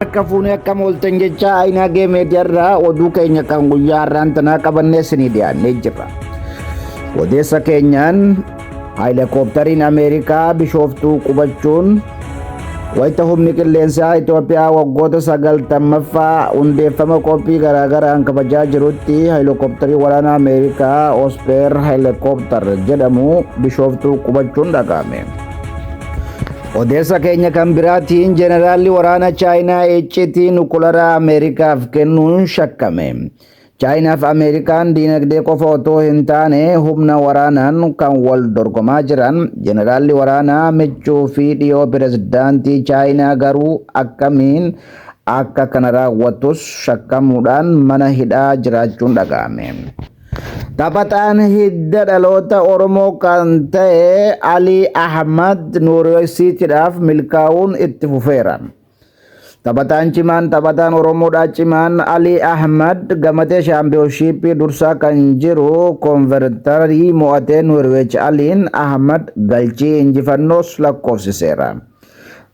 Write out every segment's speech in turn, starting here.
Akka fuunee akka mooltan jecha Ayinaagee Meediyaarraa oduu keenya kan guyyaa har'aan tanaa qabannee isinii dhiyaannee jirra. Odeessa keenyaan haayilakooptariin Ameerikaa bishooftuu qubachuun wayita humni qilleensaa Itoophiyaa waggoota sagaltammaffaa hundeeffama qophii garaagaraan kabajaa jirutti haayilakooptarii waraanaa Ameerikaa Ospeer haayilakooptar jedhamu bishooftuu qubachuun dhaga'ame. Odeessa keenya kan biraatiin jeneraalli waraana Chaayinaa iccitii nukularaa Ameerikaaf kennuun shakkame. Chaayinaaf Ameerikaan diinagdee qofa otoo hin taane humna waraanaan kan wal dorgomaa jiran jeneraalli waraanaa michuu fi dhiyoo pirezidaantii Chaayinaa garuu akkamiin akka kana raawwatus shakkamuudhaan mana hidhaa jiraachuun dhaga'ame. Taphataan hidda dhaloota Oromoo kan ta'e Alii Ahmad Noorweesiitiidhaaf milkaa'uun itti fufeera. Taphataan cimaan taphataan Oromoodhaa cimaan Alii Ahmad gamatee shaampiyoonshiippii dursaa kan jiru konvertarii mo'atee Noorweech Aliin Ahmad galchii injifannoos lakkoofsiseera.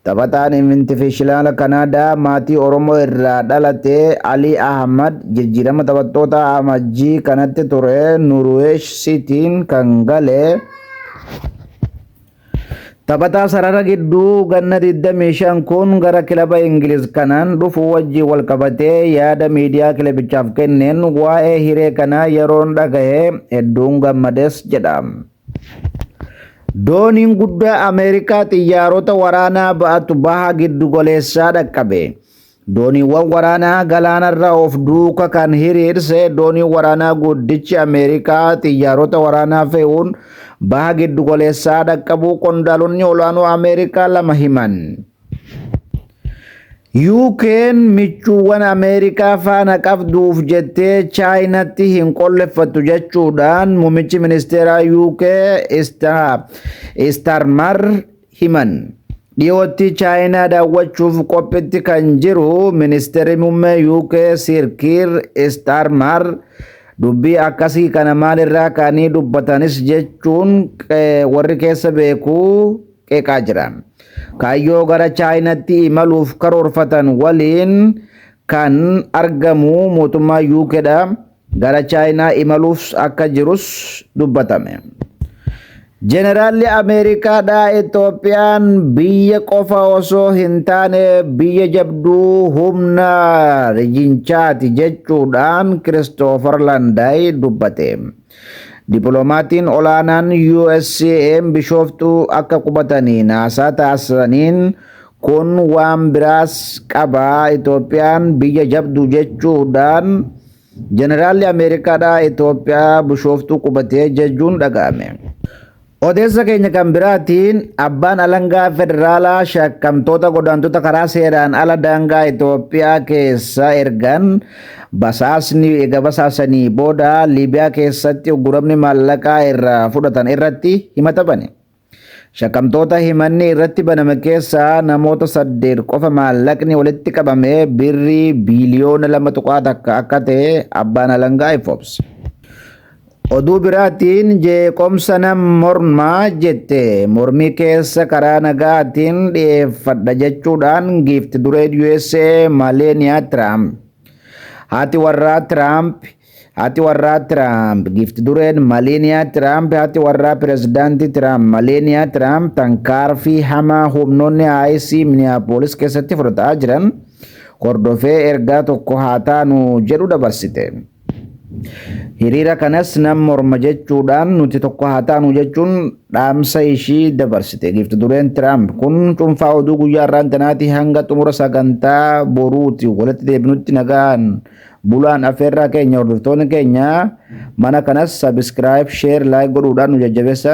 Taphataan Invintifishilaala Kanaadaa maatii Oromoo irraa dhalate Alii Ahmad jijjiirama taphattootaa Amajjii kanatti ture Nuruweesh Siitiin kan gale taphataa sarara gidduu ganna 25 kun gara kilaba Ingiliz kanaan dhufu wajjin wal qabatee yaada miidiyaa kilabichaaf kenneen waa'ee hiree kanaa yeroon dhagahe hedduun gammades jedha. Dooniin guddaa Ameerikaa xiyyaarota waraanaa ba'atu baha giddugoleessaa dhaqqabe. Dooniiwwan waraanaa galaanarra of duuka kan hiriirse dooniin waraanaa guddichi Ameerikaa xiyyaarota waraanaa fe'uun baha giddugoleessaa dhaqqabuu qondaalonni olaanoo Ameerikaa lama himan. UK'n michuuwwan Ameerikaa faana qabduuf jettee Chaayinatti hin qolleffattu jechuudhaan muummichi ministeeraa UK Istarmar himan. Dhiyootti Chaayinaa daawwachuuf qophitti kan jiru ministeerri muummee UK Sir Kiir Istarmar dubbii akkasii kana maalirraa kaanii dubbatanis jechuun warri keessa beeku qeeqaa jira. Kaayyoo gara Chaayinatti imaluuf karoorfatan waliin kan argamu mootummaa UK dha. Gara Chaayinaa imaluuf akka jirus dubbatame. Jeneraalli Ameerikaadhaa Itoophiyaan biyya qofa osoo hin taane biyya jabduu humna rijinchaati jechuudhaan Kiristoofer Landaay dubbate. Dippilomaatiin olaanaan USA'n Bishooftuu akka qubatanii naasaa taasisaniin kun waan biraas qaba Itoophiyaan biyya jabdu jechuudhaan Jeneraalli Ameerikaadhaa Itoophiyaa Bishooftuu qubatee jechuun dhaga'ame. Odeessa keenya kan biraatiin abbaan alangaa federaalaa shakkamtoota godaantota karaa seeraan ala daangaa Itoophiyaa keessa ergan basaasni ega basaasanii booda Liibiyaa keessatti ugguramni maallaqaa irraa fudhatan irratti himata bane. Shakkamtoota himanni irratti baname keessaa namoota saddeet qofa maallaqni walitti qabame birrii biiliyoona lama tuqaa takka akka ta'e abbaan alangaa ifoomse. Oduu biraatiin jeeqomsa nan morma jette mormii keessa karaa nagaatiin dhiyeeffadha jechuudhaan giifti dureen USA Maleeniyaa Tiraamp. Haati warraa Tiraamp Haati warraa Tiraamp giifti dureen Maleeniyaa Tiraamp haati warraa pirezidaantii Tiraamp Maleeniyaa Tiraamp tankaarfii hamaa humnoonni IC Miniyaapolis keessatti fudhataa jiran hordofee ergaa tokko haa taanu jedhu dabarsite. Hiriira kanas nan morma jechuudhaan nuti tokko haa taanu jechuun dhaamsa ishii dabarsite. Giifti dureen Tiraamp kun cuunfaa oduu guyyaa har'aan tanaatii hanga xumura sagantaa boruuti walitti deebinutti nagaan bulaan afeerraa keenya hordoftoonni keenya mana kanas sabiskiraayib sheer laayik godhuudhaan nu jajjabeessan.